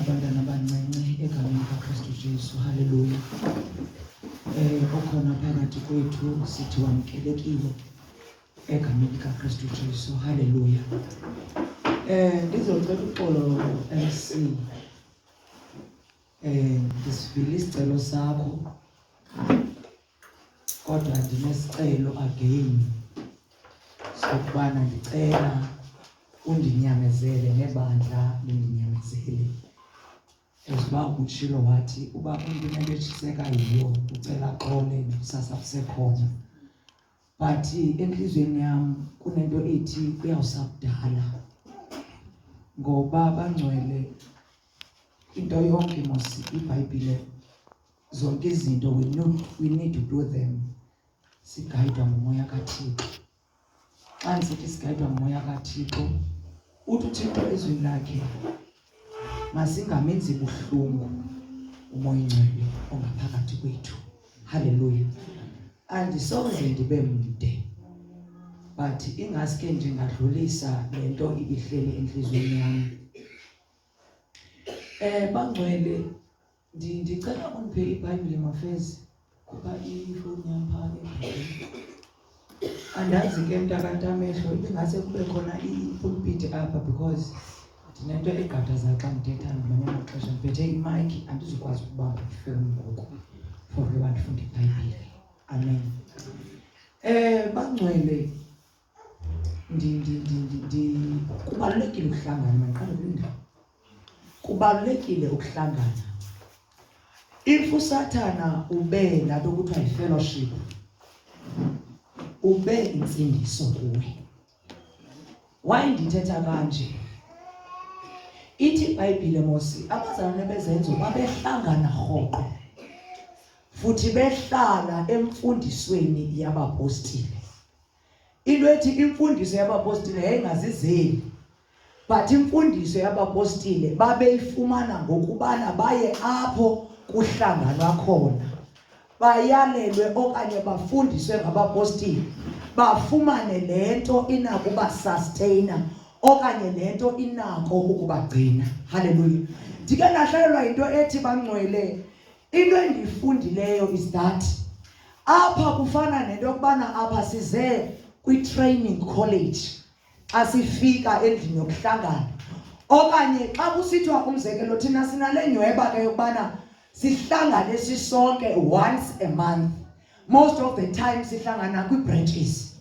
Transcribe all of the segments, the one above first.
abantwana abancinci egameni likaKristu Jesu. Haleluya. Eh okhona phakathi kwethu sithi wamkelekile egameni likaKristu Jesu. Haleluya. Eh ndizocela uxolo MC. Eh ndisivile isicelo sakho. kodwa ndinesicelo again sokubana ndicela undinyamezele nebandla lindinyamezele eziba utshilo wathi uba umntu unento etshiseka yiyo ucela xole kusasa kusekhona but entliziyweni yam kunento ethi kuyawusakudala ngoba bangcwele into yonke mos ibhayibhile zonke izinto we, know, we need to do them sigayidwa ngumoya kathixo xa ndisithi sigayidwa ngumoya kathixo uthi uthixo ezwini lakhe masingamenzi buhlungu umoya ingcwele ongaphakathi kwethu halleluya andisoze ndibe mde but ingaske ndingadlulisa le nto ibihleli entliziyweni yami um bangcwele ndicela undiphe ibhayibhile mafezi khupha ifowuni yam phaa andazi ke mntakantamehlo ibingase kube khona ipulpiti apha because ndinento egqadaza xa ndithetha ngamanye amaxesha ndiphethe imayikhi andizukwazi ukubamba ifowuni ngoku for uba ndifunde ibhayibhile amen um bangcwele kubalulekile ukuhlangana maqala kwindawo kubalulekile ukuhlangana if usathana ube labe kuthiwa yi-fellowship ube intsindiso kuwe why ndithetha kanje ithi ibhayibhile mosi abazalwane bezenzo babehlangana rhoqo futhi behlala emfundisweni yabapostile into ethi imfundiso yabapostile yayingazizeli but imfundiso yabapostile babeyifumana ngokubana baye apho kuhlanganwa khona bayalelwe okanye bafundiswe ngabapostile bafumane le nto inakuba sustainer okanye le nto inako ukubagcina haleluya ndike ndahlalelwa yinto ethi bangcwele into endiyifundileyo is that apha kufana nento yokubana apha size kwi-training college xa sifika endlini yokuhlangana okanye xa kusithiwa umzekelo thina sinale nyweba ke yokubana sihlangane sisonke once a month most of the time sihlangana kwi-branches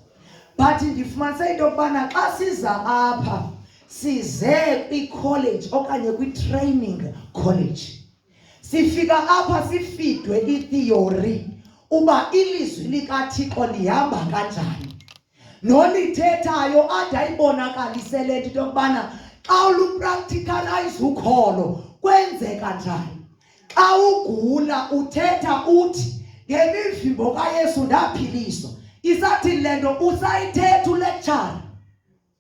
but ndifumanise into yokubana xa siza apha size kwi-college okanye kwi-training college sifika apha sifidwe itheory uba ilizwi likathixo lihamba kanjani nolithethayo ade ayibonakalise le nto into yokubana xa ulupracticalize ukholo kwenzeka njani xa ugula uthetha uthi ngemivimbo kayesu ndaphiliswa isathini le nto usayithetha ulecture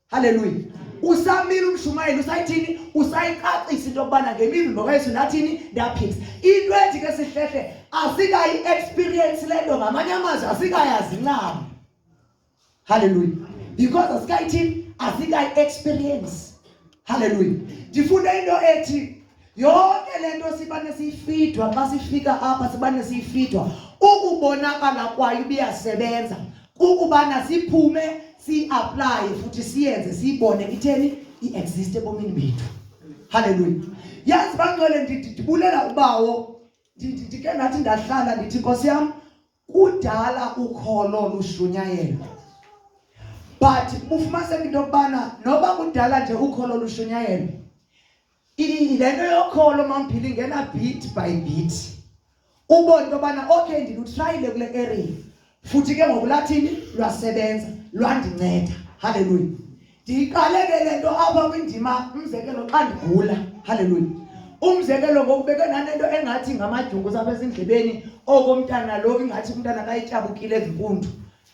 Haleluya. Usamile umshumayeli usayithini usayicacisa into yokubana ngemivimbo kaYesu nathini ndaphila. Into ethi ke sihlehle asikayi experience lento ngamanye amazwi asikayazi ncam. Haleluya. Because asikayithini asikayi experience. Haleluya. Ndifunda into ethi Yonke le nto sibane siyifidwa xa sifika apha sibane siyifidwa ukubonakala kwayo ibiyasebenza kukubana siphume siyiaplaye futhi siyenze siyibone itheni i-exist ebomini bethu halleluya yazi bangcwele ndibulela ubawo ndike ndathi ndahlala ndithi nkosi yam kudala ukholo lushunyayelwa but bufumaniseka into yokubana noba kudala nje ukholo lushunyayelwa le nto yokholo mamphila ingena bit by bit ubone into yobana okay ndilutrayile kule area futhi ke ngoku lathini lwasebenza lwandinceda halleluya ndiyiqale ke le nto apha kwindima umzekelo xa ndigula halleluya umzekelo ngoku beke nanento engathi ngamadyungu sapha ezindlebeni oko umntana lo ingathi umntana kayityabukile ezimpundu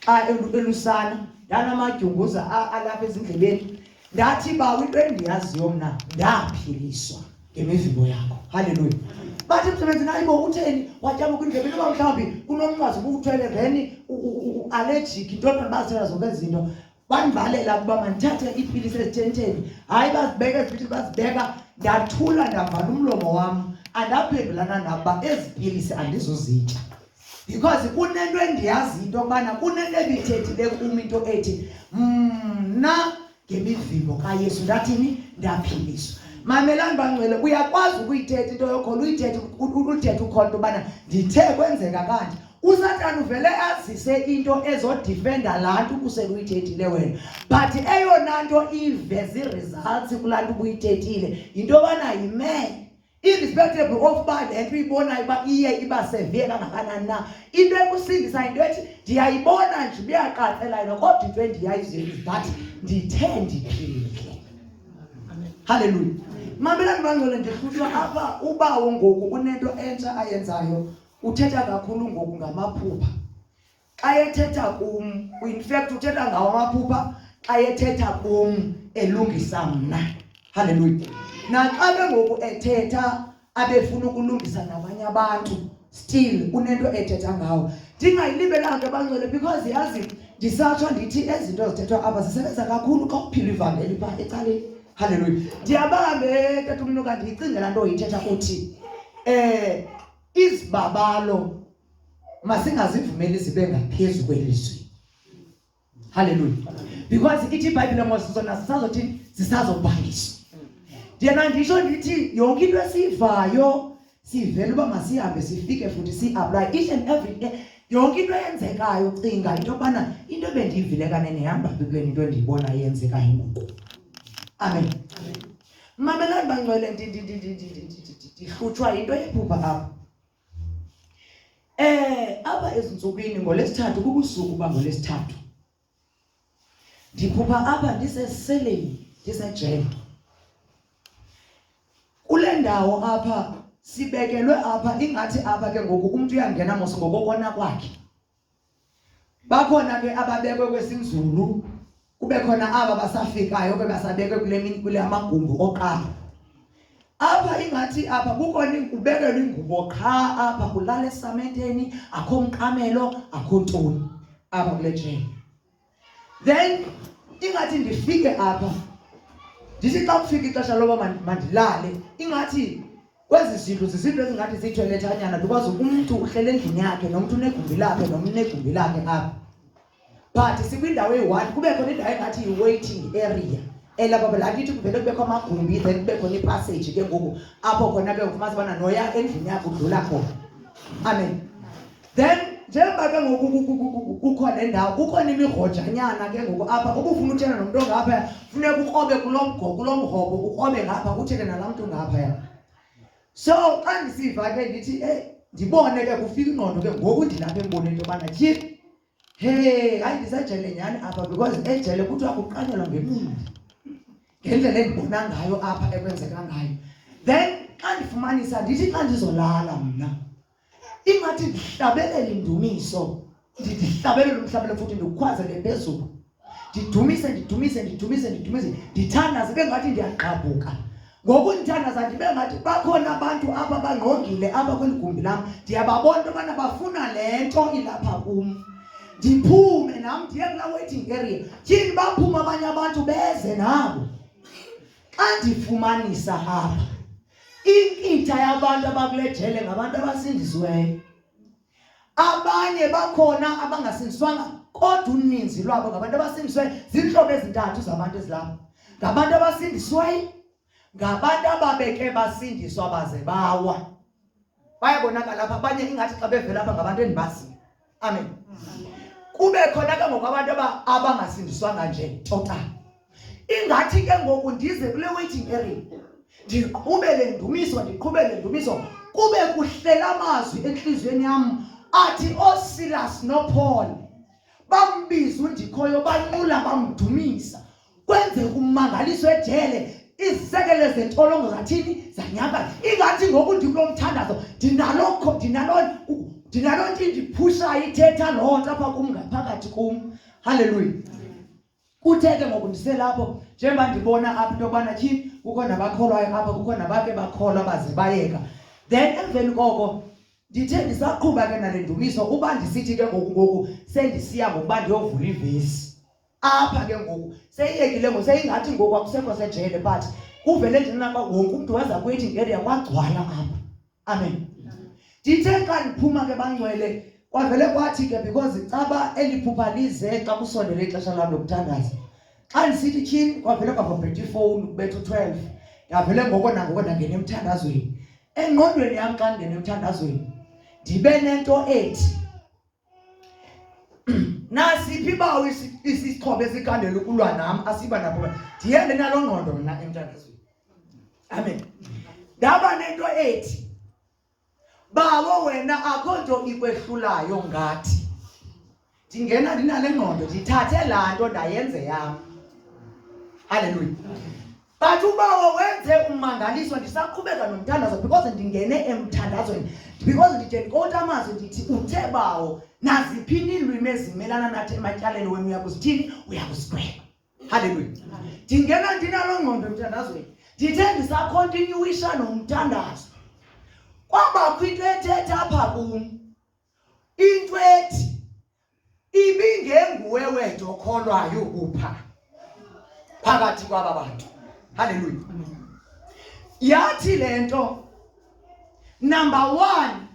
xa elusana ndanamadyunguza alapha ezindlebeni ndathi ba into endiyaziyo mna ndaphiliswa ngemivimbo yakho halleluya bathi msebenzi naye bo utheni watyaba kwindlebe noba mhlawumbi kunomnqwazi ubuwuthwele then ualejiki ntoni bathela zonke izinto bandivalela ukuba mandithathe iipilisi ezithenteni hayi bazibeka ezipilisi bazibeka ndathula ndavala umlomo wam andaphendulana nakuba ezi pilisi andizuzitya because kunento endiyazi into yokubana kunento ebithethile kum into ethi mna ngemivimbo kayesu ndathini ndaphiliswa mamelani bangcwele uyakwazi ukuyithetha into yokholo uyithethe uthethe ukhona into yobana ndithe kwenzeka kanje usatana uvele azise into ezodifenda laa nto ubuseluyithethile wena but eyona nto iveza ii-results kulaa nto ubuyithethile yinto yobana yimee irrespectable of uba le nto uyibonayo uba iye iba severe kangakanani na into ekusindisa yinto ethi ndiyayibona nje ubuyaqatsela yona kodwa into endiyayiziyo is that ndithe ndiphile halleluya mamela ndibangcwele ndihlutshwa apha ubawo ngoku unento entsha ayenzayo uthetha kakhulu ngoku ngamaphupha xa ethetha kum in fact uthetha ngawo amaphupha xa ethetha kum elungisa mna halleluya naxa ke ngoku ethetha abefuna ukulungisa nabanye abantu still unento ethetha ngawo ndingayilibelanga ke bangcwele because yazi ndisatsho ndithi ezinto zithethwa apha zisebenza kakhulu xa uphila ivangeli phaa ecaleni halleluya ndiyabambe tata umntu kanti yicingela nto yithetha kuthi um eh, izibabalo masingazivumeli zibe ngaphezulu kwelizwi haleluya because ithi ibhayibhile ngoba sizona sisazothi sisazobhangiswa ndiyena ndisho ndithi yonke into esiyivayo sivele uba masihambe sifike futhi si-aplaye each and every day yonke into eyenzekayo cinga into yokubana into ebendiyivile kanene yihamba bibeni into endiyibona eyenzekayo ngoku amen, amen. mamelani bangcwele ndihlutshwa yinto yephupha apha eh apha ezintsukwini ngolesithathu kubusuku uba ngolesithathu ndiphupha apha ndiseseleni ndisejele kule ndawo apha sibekelwe apha ingathi apha ke ngoku umntu uyangena mos ngokokona kwakhe bakhona ke ababekwe kwesinzulu kube khona aba basafikayo ke basabekwe kule mini kule amagumbi oqala apha ingathi apha kukhona ubekelwe ingubo qha apha kulala esamenteni akho mqamelo akho ntoni apha kule jeni then ingathi ndifike apha ndithi xa kufika ixesha loba mandilale ingathi kwezi zindlu zizinto ezingathi ziithoyilethanyana because umntu uhlele endlini yakhe nomntu unegumbi lakhe nomntu unegumbi lakhe apha but sikwindawo eyi-one kube khona indawo engathi yi-waiting area elapha phela akithi kuvele kubekho amagumbi then kube khona ipassage ke ngoku apho khona ke ufumasa ubana noya endlini yakho udlula khona amen then njengoba ke ngoku kukho le ndawo kukho nemigojanyana ke ngoku apha ubufuna utshela nomntu ongaphaya funeka ukrobe kulo mgo kulo mhobo ukrobe ngapha utshele nalaa mntu ngaphaya so xa ndisiva ke ndithi eyi ndibone ke kufika ingqondo ke ngoku ndilapha emboneni into yobana tyhi he hayi ndisajele nyhani apha because ejele kuthiwa kuqanyelwa ngemini ngendlela endibona ngayo apha ekwenzeka ngayo then xa ndifumanisa ndithi xa ndizolala mna ingathi ndihlabelele indumiso ndihlabelele umhlabelo futhi ndikhwazele phezulu ndidumise ndidumise ndidumise ndidumise ndithandaze ibe ngathi ndiyagqabhuka ngoku ndithandaza ndibe ngathi bakhona abantu apha bangqongile apha kweli gumbi lam ndiyababona into yobana bafuna le nto ilapha kum ndiphume nam ndiye kulaa waiting area tyhini baphume abanye abantu beze nabo xa ndifumanisa apha inkitha yabantu abakule jele ngabantu abasindisiweyo abanye bakhona abangasindiswanga kodwa uninzi lwabo ngabantu abasindisiweyo ziintlobo ezintathu zabantu ezilapha ngabantu abasindisiweyo ngabantu ababeke basindiswa baze bawa bayabonakala apha abanye ingathi xa bevela apha ngabantu endibaziyo amen kube khona ke ngoku abantu abangasindiswanga nje total ingathi ke ngoku ndize kule waiting area ndiqhubele ndumiso ndiqhubele ndumiso kube kuhlela amazwi enhliziyweni yam athi osilas nopaul bambiza undikhoyo banqula bamdumisa kwenzeka ummangaliso ejele izisekelo zentolongo zathini zanyaka ingathi ngoku ndikulo mthandazo ndinalokho ndinalo ndinalo nto indiphushayo ithetha loo nto apha kum ngaphakathi kum halleluya kuthe ke ngoku ndiselapho njengoba ndibona apha into yokubana tyhini kukho nabakholwayo apha kukho nabake bakholwa baze bayeka then emveni koko ndithe ndisaqhuba ke nale ndumiso uba ndisithi ke ngoku ngoku sendisiya ngokuba ndiyovula ivesi apha ke ngoku seyiyekile ngoku seyingathi ngoku akusekho sejele but kuvele ndinaba wonke umntu waza kwethi ngeria kwagcwala apha amen ndithe xa ndiphuma ke bangcwele kwavele kwathi ke because caba eliphupha lize xa kusondele ixesha lam lokuthandaza xa ndisithi tyhini kwavele kwavabhetha ifowuni kubetha u-twelve ndavele ngoko nangoko ndangena emthandazweni engqondweni yam xa ndingena emthandazweni ndibe nento ethi nasiphi bawo isixhobo esikhandela ukulwa nam asiba nabo ndihembe nalo ngqondo mna emthandazweni amen ndaba nento ethi bawo wena akho nto ikwehlulayo ngathi ndingena ndinale ngqondo ndithathe laa nto ndayenze yam halleluya But ubawo wenze ummangaliso ndisaqhubeka nomthandazo because ndingene emthandazweni because ndide ndikota amazwi ndithi uthe bawo naziphi iilwimi ezimelana nathi ematyaleni wenu uyakuzithini uyakusigweba halleluya ndingena ndinaloo ngqondo emthandazweni ndithe ndisakhontinyuwisha nomthandazo kwabakho into ethetha apha kum into ethi ibingenguwe wedwa okholwayo kupha phakathi kwaba bantu haleluya yathi le nto number one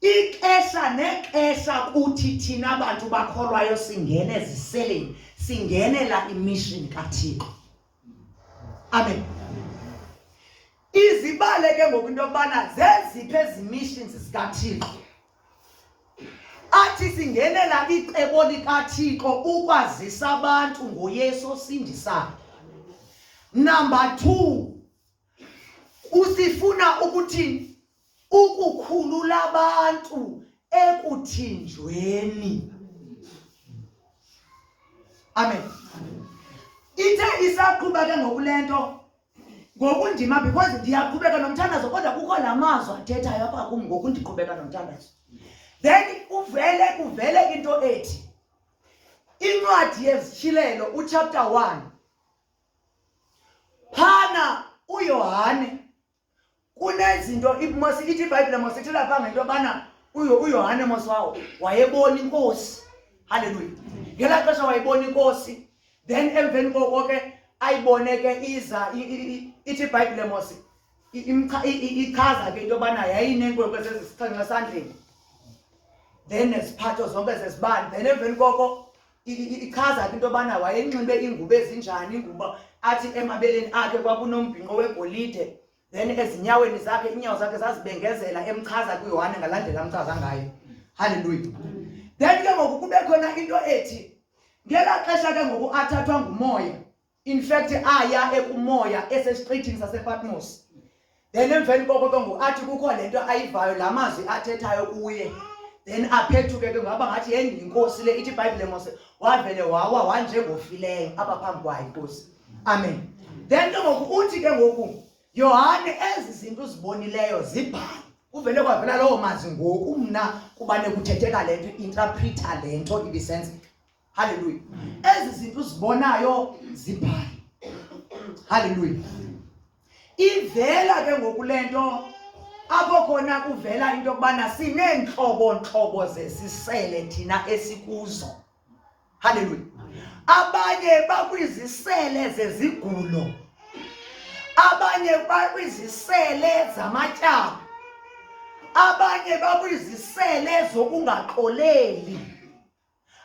ixesha nexesha kuthi thina bantu bakholwayo singene eziseleni singenela imishini kathixo amen izibale ke ngoku into yokubana zeziphi ezi missions zikathixo athi singenela icebo likathixo ukwazisa abantu ngoyesu osindisayo number two usifuna ukuthini ukukhulula abantu ekuthinjweni amen ithe isaqhuba ke ngokule nto ngokundima because ndiyaqhubeka nomthandazo kodwa kukho la mazwi athethayo apha kum ngokundiqhubeka nomthandazo then uvele kuvele into ethi incwadi yezishilelo uchapter one phana uyohane kunezinto mos ithi ibhayibhile mos ithi lapha ngento yobana uyohane mos wawo wayebona inkosi halleluya ngelaa xesha wayebona inkosi then emveni koko ke ayibone ke iza ithi ibhayibhile mos ichaza ke into yobana yayinenkwenkwe zezisixhenxe esandleni then neziphatho zonke zezibani then emveni koko ichaza ke into yobana wayenxibe iingubo ezinjani ingubo athi emabeleni akhe kwakunombhinqo wegolide then ezinyaweni zakhe iinyawo zakhe zazibengezela emchaza kuyohane ngalandlela amchaza ngayo halleluya then ke ngoku kube khona into ethi ngelaa xesha ke ngoku athathwa ngumoya in fact aya ekumoya esesiqithini sasePatmos then emveni koko ke ngoku athi kukho le nto ayivayo la mazwi athethayo kuye then aphethuke ke ngaba ngathi yeyi yinkosi le ithi ibhayibhile mose wavele wawa wanjengofileyo apha phambi kwayo inkosi amen then ke ngoku uthi ke ngoku yohane ezi zinto uzibonileyo zibhale kuvele kwavela lowo mazwi ngoku mna kubane kuthetheka le nto interpreta le nto ibisenzeka haleluya ezi zinto uzibonayo zibhale haleluya ivela ke ngoku le nto apho khona kuvela into yokubana sineentlobo ntlobo zesisele thina esikuzo haleluya abanye bakwizisele zezigulo abanye bakwizisele zamatyaba abanye bakwizisele zokungaxoleli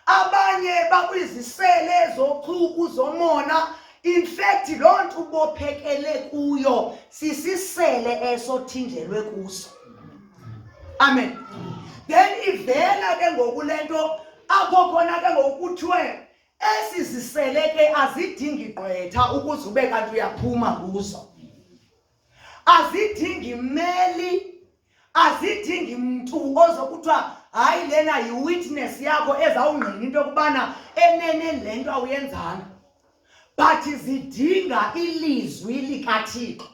abanye bakwizisele zochuku zomona in fact loo nto ubophekele kuyo sisisele eso thinjelwe kuso amen then ivela ke ngoku le nto apho khona ke ngoku kuthiwe esi zisele ke azidingi gqwetha ukuze ube kanti uyaphuma kuzo azidingi mmeli azidingi mntu ozokuthiwa hayi lena yiwitness yakho ezawungqina into yokubana enene le nto awuyenzanga but zidinga ilizwi likathixo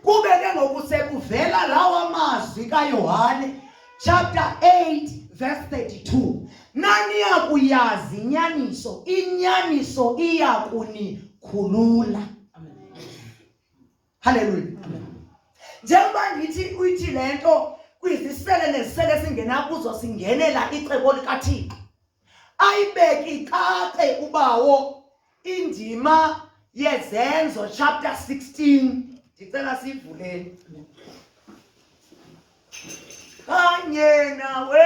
kube ke ngoku sekuvela lawa mazwi kayohane chapter 8 verse 32 naniya kuyazi inyaniso inyaniso iya kunikhulula Hallelujah. Njengoba ngithi uyithi lento kwizisele nezisele singena kuzo singenela icebo likaThixo. Ayibeki cace ubawo indima yezenzo chapter 16 ndicela sivuleni. Kanye nawe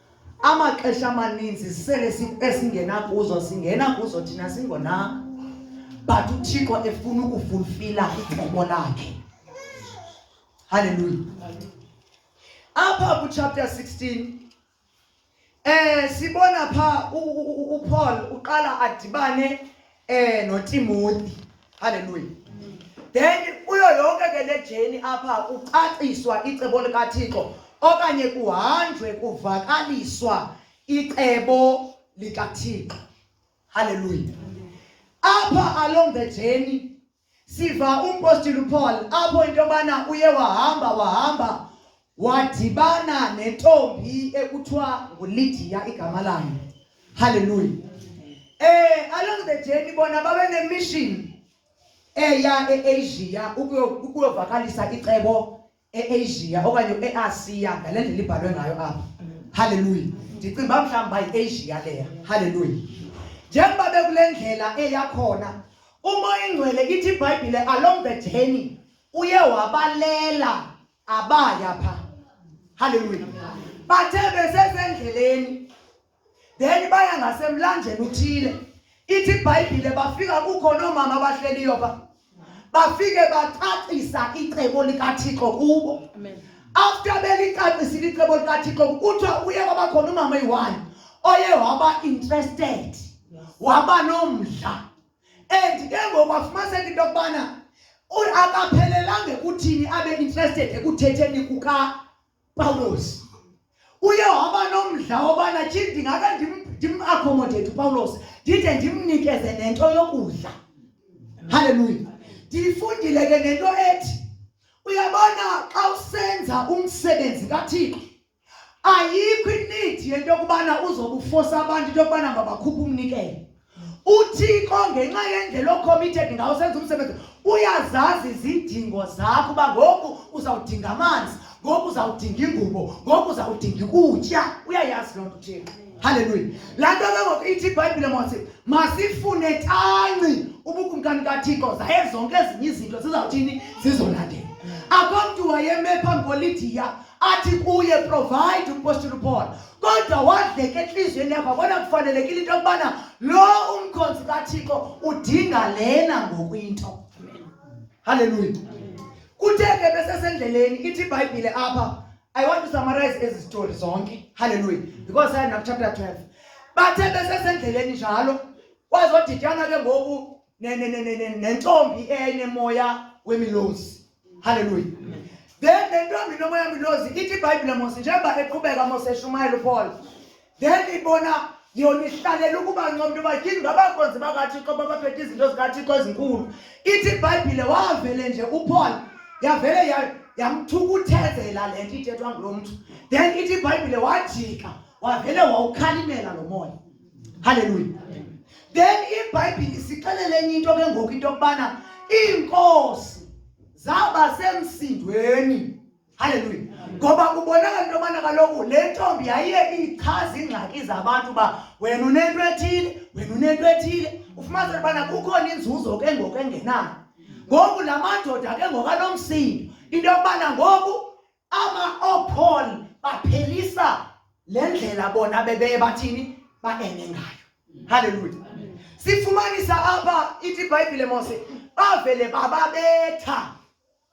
Amaxesha amaninzi sisele esingena kuzo singena kuzo thina singonanga. But uThixo efuna ukufulfila icebo lakhe. Hallelujah. Apha ku chapter 16 eh sibona pha uPaul uqala adibane eh noTimothy haleluya then kuyo yonke ke le jeni apha kucaciswa icebo likaThixo okanye kuhanjwe kuvakaliswa icebo likaThixo haleluya apha along the journey Siva umpostile uPaul apho into yobana uye wahamba wahamba wadibana nentombi ekuthiwa nguLidiya igama layo. Hallelujah. Eh along the journey bona babe nemission eya eAsia ukuyovakalisa icebo eAsia okanye eAsia ngale ndlela ibhalwe ngayo apha haleluya ndicinga uba mhlawumbi uba yiAsia leya haleluya njengoba bekule ndlela eyakhona umoya ingcwele ithi ibhayibhile along the journey uye wabalela abaya pha haleluya bathe besesendleleni then baya ngasemlanjeni uthile ithi ibhayibhile bafika kukho noomama abahleliyo pha bafike bacacisa icebo likathixo kubo after belicacisile icebo likathixo kuthiwa uye kwabakhona umama eyi-one oye waba interested waba nomdla and ke ngoku afumaniseka into yokubana akaphelelanga ekuthini abe interested ekuthetheni kuka Pawulos uye waba nomdla wobana ndingake ndimakhomodethe upawulos ndide ndimnikeze nento yokudla halleluya ndiyifundile ke nento ethi uyabona xa usenza umsebenzi kathixo ayikho inidi yento yokubana uzobufosa abantu into yokubana mabakhuphe umnikelo uthixo ngenxa yendlela ocommitted ngawo senza umsebenzi uyazazi izidingo zakho uba ngoku uzawudinga amanzi ngoku uzawudinga ingubo ngoku uzawudinga ukutya uyayazi loo nto uthixo halleluya laa nto ke ngoku ithi ibhayibhile mose masifune tanci ubukumkani kathixo zaye zonke ezinye izinto zizawuthini zizolandela akho mntu wayeme phambi kolidiya athi kuye provide umpostile upaul kodwa wadleka entliziyweni yakhe wabona kufanelekile into yokubana lo umkhonzi kathixo udinga lena ngoku into halleluya kuthe ke besesendleleni ithi ibhayibhile apha i want to summarize ezi zitori zonke halleluya because saya nakuchapter 12 bathe besesendleleni njalo wazodityana ke ngoku nentombi eyayinemoya wemilozi halleluya then le ntombi nomoya wemilozi ithi ibhayibhile mose njengoba eqhubeka mose eshumayela upaul then ibona yona ihlalela ukuba ncomntu uba tyini ngabakonzi bakathixo babaphethe izinto zikathixo ezinkulu ithi ibhayibhile wavele nje upaul yavele yamthukuthezela le nto ithethwa ngulo mntu then ithi ibhayibhile wajika wavele wawukhalimela lo moya Haleluya. Then iBhayibhile isixelela enye into ke ngoku into yokubana iinkosi zaba semsindweni. Haleluya. Ngoba kubonakala into yobana kaloku le ntombi yayiye ichaza iingxaki zabantu uba wena unento ethile, wena unento ethile. Ufumaniseka ubana kukhona inzuzo ke ngoku engenayo. Ngoku la madoda ke ngoku anomsindo into yokubana ngoku ama-opon baphelisa le ndlela bona bebeye bathini baene ngayo halleluya sifumanisa apha ithi ibhayibhile mose bavele bababetha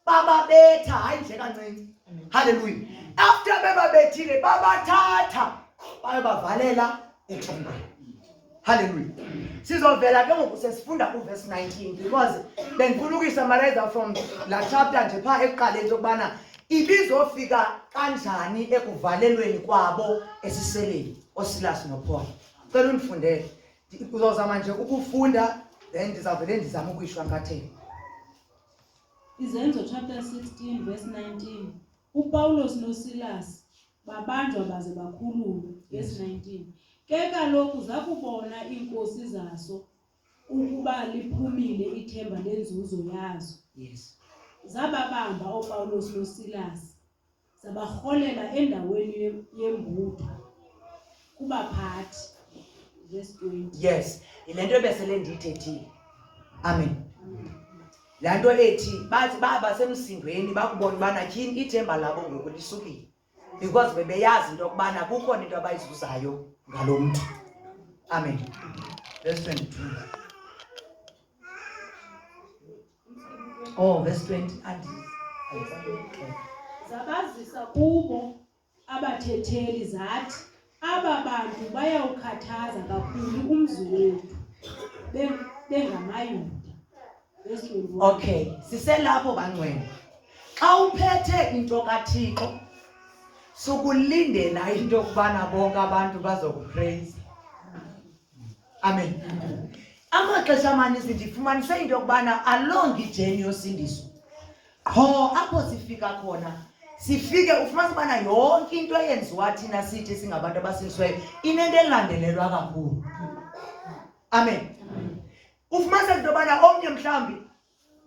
bababetha hayi nje kancinci halleluya after bebabethile babathatha bayobavalela etyhombayo Hallelujah. Sizovela ke ngoku sesifunda ku verse 19 because bengifuna ukuyisamareza from la chapter nje pha ekuqaleni sokubana ibizofika kanjani ekuvalelweni kwabo esiseleni oSilas noPaul. Cela undifundele. Uzozama nje ukufunda then ndizavele ndizama ukuyishwa ngatheni. Izenzo chapter 16 verse 19. UPawulos noSilas babanjwa baze bakhululwe yes 19 ke kaloku zakubona iinkosi zaso ukuba liphumile ithemba lenzuzo yazo yes zababamba oPawulos noSilas zabarholela endaweni yembutho kubaphathi verse 20 yes yile nto ebesele ndiyithethile amen laa nto ethi bathi baba semsindweni bakubona ubana tyhini ithemba labo ngoku lisukile because bebeyazi into yokubana kukhona into abayizuzayo ngalo mntu amen verse 22 oh verse 20 andizabazisa kubo abathetheli zathi aba bantu bayawukhathaza kakhulu umzi wethu bengamayuda okay siselapho bangcwele xa uphethe into kathixo sukulindela into yokubana bonke abantu bazokupreyisa amen amaxesha amaninzi ndifumanise into yokubana alongi ijeni yosindiso qho apho sifika khona sifike ufumanisa ubana yonke into eyenziwa thina sithi singabantu abasindisweyo inento elandelelwa kakhulu amen ufumanisa into yobana omnye mhlawumbi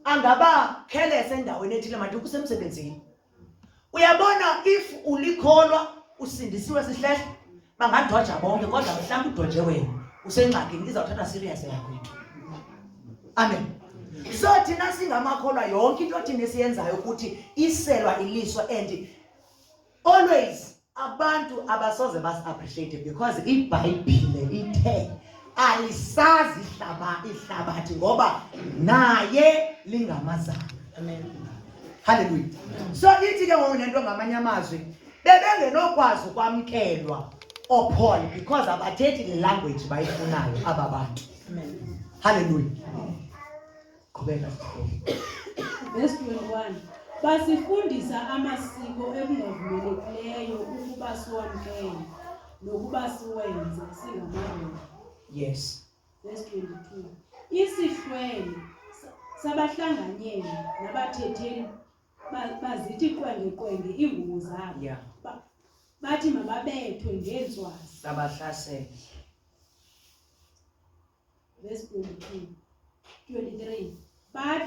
angaba khelese endaweni ethile made ukusemsebenzini uyabona if ulikholwa usindisiwe sihlehla bangadwaja bonke kodwa mhlawumbi udwaje wena usengxakini izawuthatha serious yakwethu amen so thina singamakholwa yonke into thina esiyenzayo ukuthi iselwa iliso and always abantu abasoze basi-appreciate because ibhayibhile ithe alisazi ihlaba ihlabathi ngoba naye lingamazana amen haleluya so ithi ke ngoku nento ngamanye amazwi bebengenokwazi ukwamkelwa ophol because abathethi le language bayifunayo aba bantu haleluya qhubeka verse 21 basifundisa amasiko ekungavumelekileyo ukuba siwamkele nokuba siwenze singamadoda yes verse 22 isihlwele sabahlanganyeli nabathetheli bazithi qwengeqwenge iingubo zabo yeah. ba, bathi mababethwe ngeentswazi babahlasele verse 23 23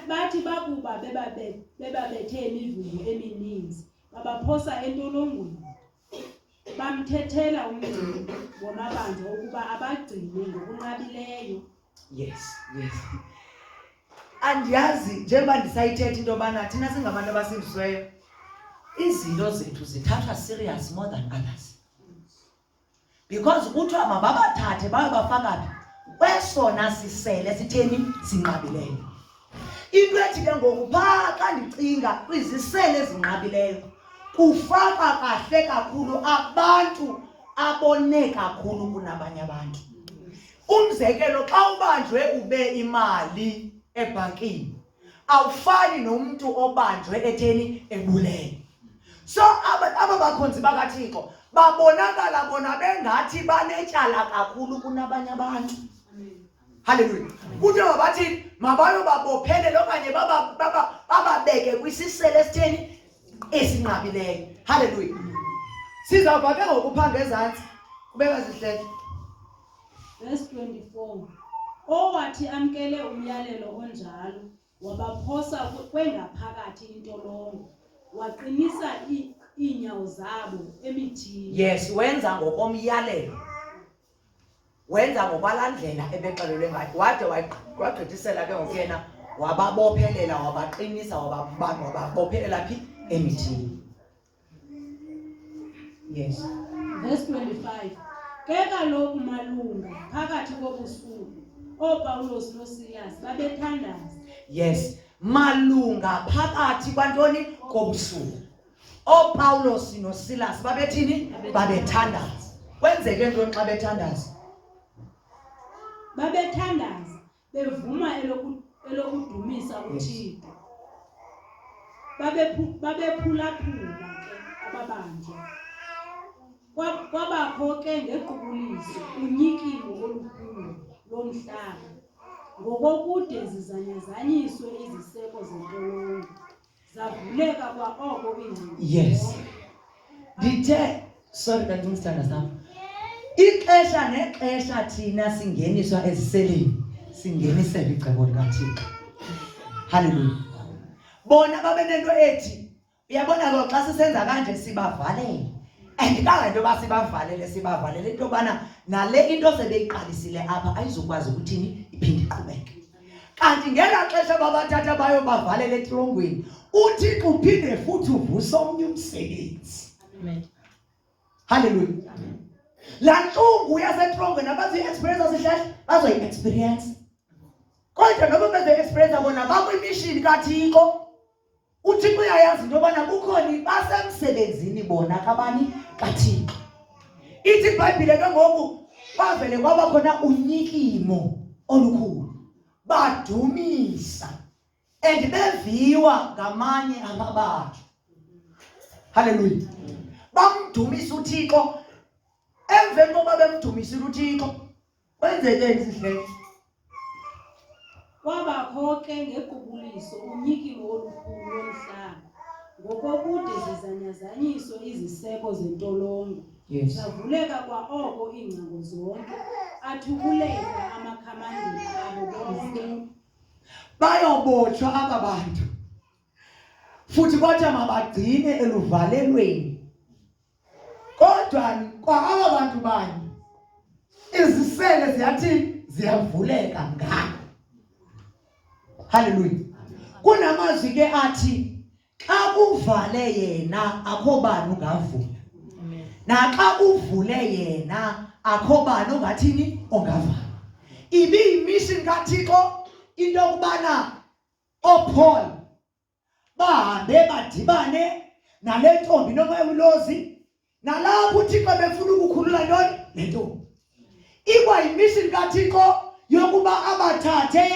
bathi bakuba bebabethe imivumo emininzi babaphosa entolongweni bamthethela umngcini wamabanjwa ukuba abagcine ngokunqabileyo yes yes andiyazi njengoba ndisayithetha into yobana thina singabantu abasindisiweyo izinto zethu zithathwa serious more than others because kuthiwa mababathathe bayobafaka phi kwesona sisele sitheni sinqabileyo into ethi ke ngoku phaa xa ndicinga kwizisele ezinqabileyo kufaka kahle kakhulu abantu abone kakhulu kunabanye abantu umzekelo xa ubanjwe ube imali ebhankini awufani nomntu obanjwe etheni ebuleni so aba aba bakhonzi bakathixo babonakala bona bengathi banetyala kakhulu kunabanye abantu halleluya kuthi mabathini mabayobabophelele okanye bababeke kwisisele esitheni esinqabileyo halleluya sizawuva ke ngokuphanga ezantsi kubeka zihlele Verse 24. Owathi amkele umyalelo onjalo wabaphosa kwengaphakathi intolongo waqinisa iinyawo zabo emithini. Yes, wenza ngokomyalelo. Wenza ngobalandlela ebexelelwe ngayo. Wade wagqithisela ke ngokuyena wababophelela wabaqinisa wababamba wababophelela phi emithini. Yes. Verse 25. Ke kaloku malunga phakathi kobusuku ooPawulos noSilas babethandaza. Yes. Malunga phakathi kwantoni kobusuku. OoPawulos noSilas babethini? Babethandaza. Kwenzeke ntoni xa bethandaza? Babethandaza. bevuma elokudumisa uthixo babephulaphula ke ababanjwa kwabakho ke ngequbuliso unyikimo olukhulu lomhlaba ngokokude zizanyazanyiswe iziseko zentolongo Zavuleka kwa oko iingcingo. Yes. Ndithe sorry that means tanda sam. Ixesha nexesha thina singeniswa eziseleni singenisela icebo likaThixo. Hallelujah. Bona babe nento ethi uyabona ke xa sisenza kanje sibavalele. Andikazi into yoba sibavalele sibavalele into yobana nale into sebeyiqalisile apha ayizukwazi ukuthini iphinde iqhubeke. kanti ngelaa xesha babathatha bayo bavalela etrongweni uthixo uphinde futhi uvuse omnye umsebenzi halleluya laa ntlungu yasetrongweni abaziyi-experience asihlahle bazoyi-experience kodwa noba bezoyi-experience bona bakwimishini kathixo uthixo uyayazi into yobana kukhona basemsebenzini bona kabani kathixo ithi ibhayibhile ke ngoku bavele kwaba khona unyikimo olukhulu badumisa and beviwa ngamanye amabantu haleluya bamdumisa uthixo emveni kokuba bemdumisile uthixo Kwenzekeni sihleke? Kwabakho ke ngequbuliso unyikiwo olukhulu lomhlaba ngokokude zizanyazanyiso iziseko zentolongo yes. zavuleka kwaoko iingcango zonke athukuleka amakhamandini abo bonke bayobotshwa aba bantu futhi kwathiwa mabagcine eluvalelweni kodwa kwa aba bantu banye izisele ziyathi ziyavuleka ngako haleluya kunamazwi ke athi xa kuvale yena akho bani ungavula naxa kuvule yena akho bani ongathini ongavala ibiyimission kathixo into yokubana oopaul bahambe badibane nale ntombi nomoya ulozi nalapho uthixo befuna ukukhulula ntoni le ntombi ikwayimishini kathixo yokuba abathathe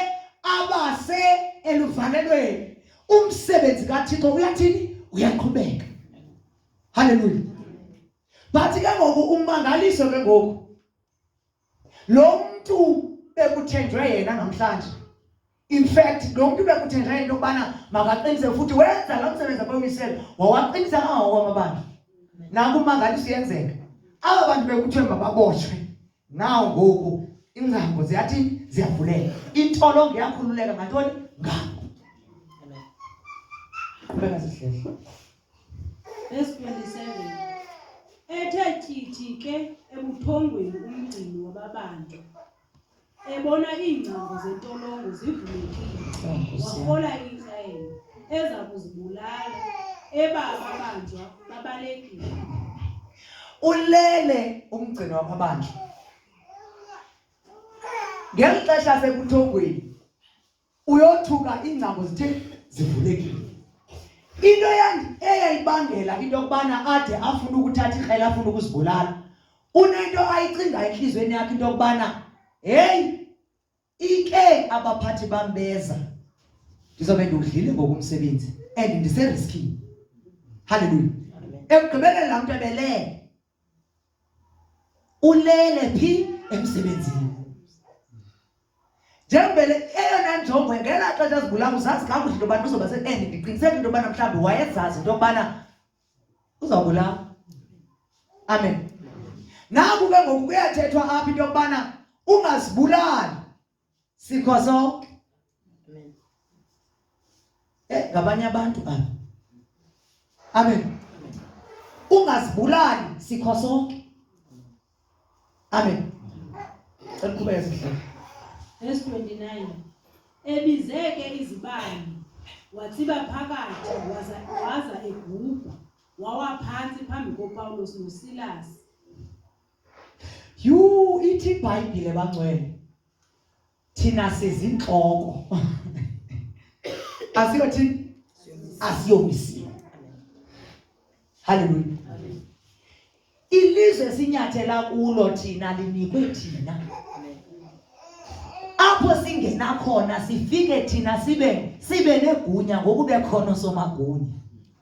abase eluvalelweni umsebenzi kathixo uyathini uyaqhubeka haleluya bathi ke ngoku umangaliso ke ngoku lo mntu bekuthenjwe yena namhlanje in fact lo mntu bekuthenjwe yena into yokubana makaqinise futhi wenza lo msebenzi abawisele wawaqinisa kangangoko amabandla nakumangaliso yenzeka aba bantu bekuthiwe mababotshwe nawo ngoku ingcango ziyathi ziyavuleka intolongo yakhululeka ngantoni ngabo bekazihlehla Verse 27. Ethe chithi ke ebuthongweni umgcini wababantu ebona iingcango zentolongo zivulekile wafola iintlelo eza kuzibulala eba ababanjwa babalekile ulele umgcini wababandla ngeli xesha sekuthongweni uyothuka iingcango zithe zivulekile into eyayibangela into yokubana ade afune ukuthatha ikrele afune ukuzibulala unento ayicinga entliziyweni yakhe into yokubana heyi ike abaphathi bambeza ndizobe ndiwudlile ngokumsebenzi and ndiseriskini halleluya ekugqibeleni laa mntu ebelele ulele phi emsebenzini njengobele eyona njongo ngela xesha zigulayo uzazi kakuhle into yobana uzoba se-end ndiqiniseke into yobana mhlawumbi wayezazi into yokubana uzawubulawa amen naku ke ngoku kuyathethwa apha into yokubana ungazibulali sikwazo eh ngabanye abantu aba amen ungazibulali sikho sonke amen cela kuba yesihlalo verse 29 ebizeke izibani watsiba phakathi waza waza egubha wawa phansi phambi koPawulos noSilas yhu ithi ibhayibhile bangcwele thina sizintloko asiyothini asiyomisiwe haleluya ilizwe sinyathela kulo thina linikwe thina apho singena khona sifike thina sibe sibe negunya ngokubekhona somagunya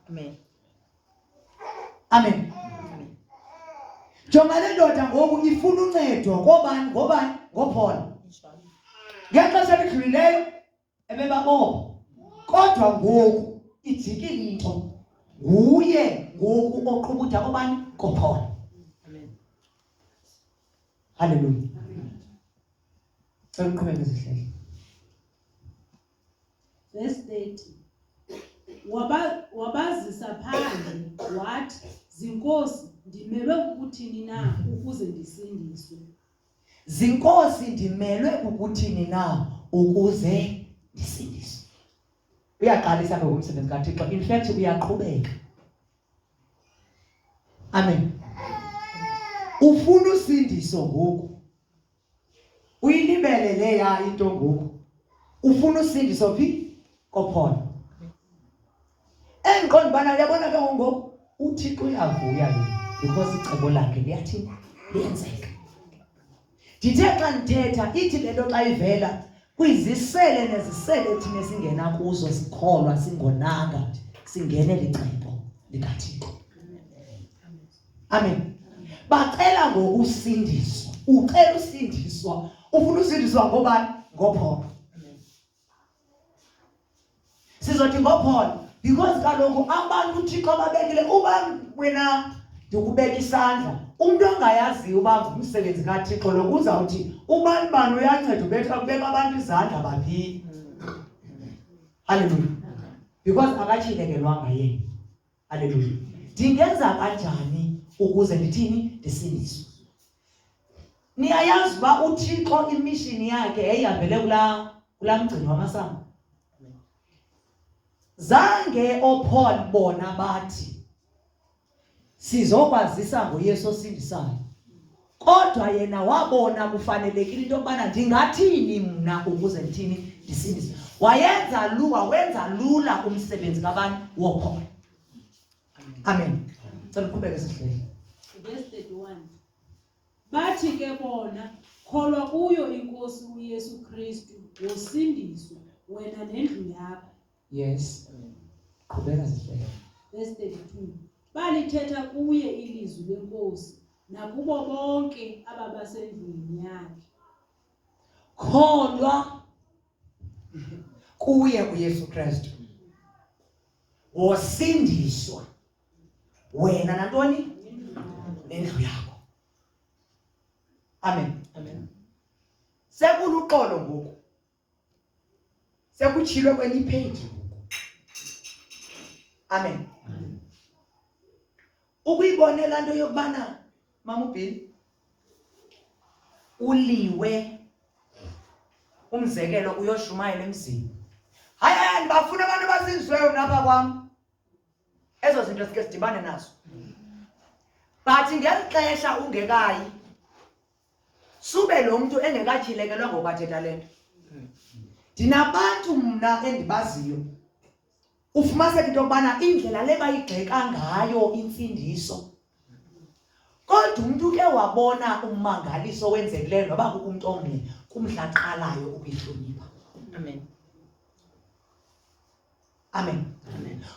amen Amen. Jonga le ndoda ngoku ifuna uncedo ngobani ngobani ngophola. Ngexesha elidlulileyo ebebabopha kodwa ngoku ijike into nguye ngoku oqhubutha kobani kophola. Hallelujah. Cela uqhubeke zihlele. Verse 30. Waba, wabazisa phandle wathi zinkosi ndimelwe kukuthini na ukuze ndisindiswe zinkosi ndimelwe kukuthini na ukuze ndisindiswe uyaqalisa ke umsebenzi kathixo in fact uyaqhubeka amen ufuna usindiso ngoku uyilibele leya into ngoku ufuna usindiso phi kophona engiqonda ubana uyabona ke ngoku uthixo uyavuya yini because icebo lakhe liyathi liyenzeka ndithe xa ndithetha ithi le nto xa ivela kwizisele nezisele thina esingena kuzo sikholwa singonanga singene licebo likathixo amen bacela ngokusindiswa ucela usindiswa ufuna usindiswa ngobani ngopholo sizothi ngopholo because kaloku abantu uthixo ababekile uba wena ndikubeka isandla umuntu ongayaziyo uba ngumsebenzi kathixo lo kuzawuthi ubani bani uyanceda ubetha kubeka abantu izandla baphi halleluya because akatshilekelwanga yena Haleluya. Ndingenza kanjani ukuze ndithini ndisindiswe? Niyayazi uba uThixo imishini yakhe yayihambele kulaa kulaa mgcini wamasango. Zange ooPaul bona bathi sizokwazisa ngoYesu osindisayo. kodwa yena wabona kufanelekile into yokubana ndingathini mna ukuze ndithini ndisindise wayenza lu wawenza lula umsebenzi kabani wokhona amen cela uqhubeke sihleli verse 31 bathi ke bona kholwa kuyo inkosi uyesu kristu wosindiswa wena nendlu yakho yes qhubeka zihlele verse 32 balithetha kuye ilizwi lenkosi nakubo bonke ababasendlini yakhe kholwa kuye uYesu Kristu wosindiswa wena nantoni nendlu yakho amen amen sekuluqolo ngoku sekutshilwe kwenye ipheji amen ukuyibone laa nto yokubana mamubhini uliwe umzekelo uyoshumayela emzini hayi hayi ndibafuna abantu abazinzweyo naba kwam ezo zinto sike sidibane nazo but ngeli xesha ungekayi sube lo mntu engekatyhilekelwa ngoku athetha le nto ndinabantu mna endibaziyo ufumaniseka into yokubana indlela le bayigxeka ngayo imfundiso kodwa umntu ke wabona ummangaliso owenzekileyo noba kukumntu omnye kumdla qalayo ukuyihlonipha amen amen